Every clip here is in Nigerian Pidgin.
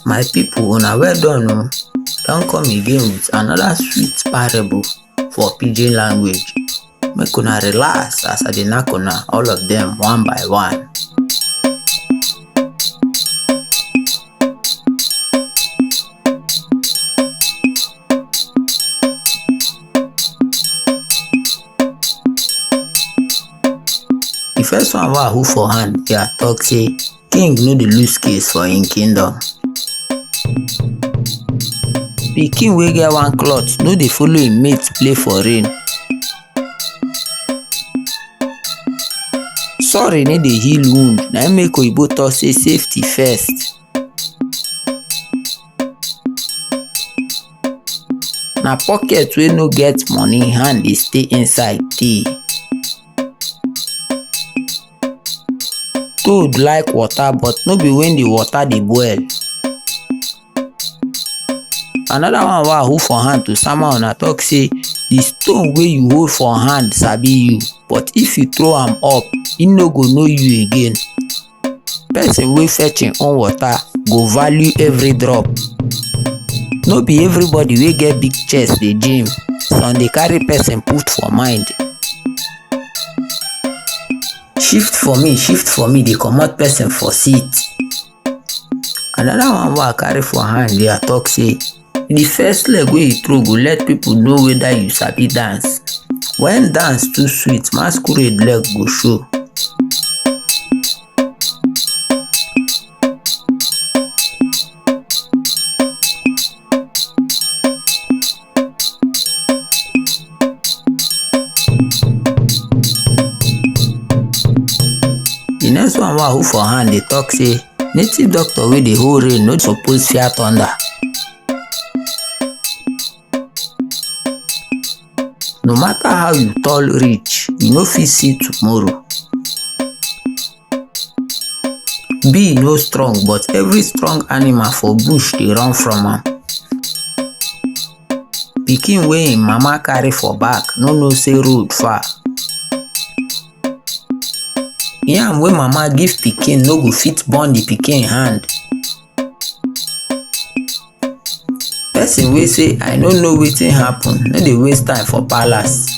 My people, una well done o. Don come again with another sweet parable for pidgin language. Make una relax as I dey knack una all of them one by one. The first one wey I hold for hand here talk say King no dey lose case for im kingdom. Pikin wey get one cloth no dey follow im mate play for rain. Sorry no dey heal wound, na im make oyibo talk say safety first. Na pocket wey no get money hand dey stay inside tey. toad like water but no be when the water dey boil another one wey i hold for hand to sama una talk say the stone wey you hold for hand sabi you but if you throw am up e no go know you again person wey fetch im own water go value every drop no be everybody wey get big chest dey gym some dey carry person put for mind shift for me shift for me dey comot person for seat another one wey i carry for hand there talk say the first leg wey you throw go let people know whether you sabi dance when dance too sweet masquerade leg go show The next one wa who for hand dey talk say native doctor wey dey hold rain no suppose fear thunder. No matter how you tall reach, you no fit see tomorrow. bee no strong but every strong animal for bush dey run from am pikin wey im mama carry for back no know say road far yam wey mama give pikin no go fit burn the pikin hand person wey say i no know wetin happen no dey waste time for palace.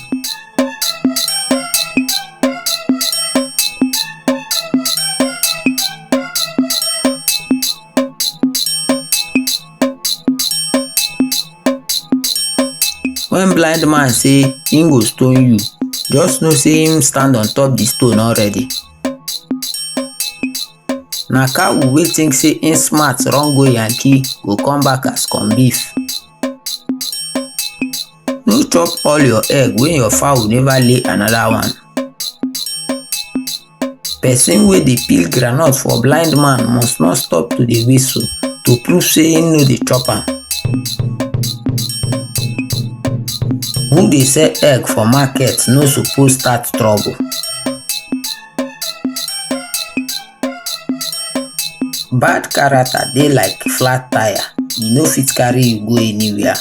when blind man say him go stone you just know say him stand on top the stone already. na cow wey think say im smart run go yankee go come back as corn beef no chop all your egg when your fowl never lay another one person wey dey peel groundnut for blind man must not stop to dey whistle to prove say im no dey chop am who dey sell egg for market no suppose start trouble Bad character dey like flat tire, e no fit carry you go anywhere.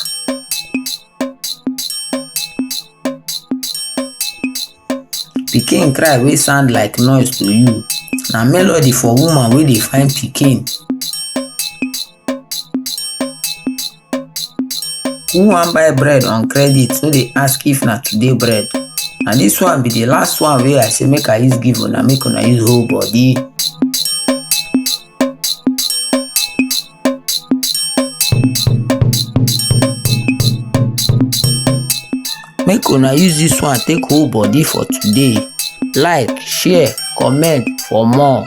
Pikin cry wey sound like noise to you na melody for woman wey dey find pikin. who wan buy bread on credit no dey ask if na today bread and dis one be the last one wey i say make i use give una make una use whole body make una use dis one take whole body for today like share comment for more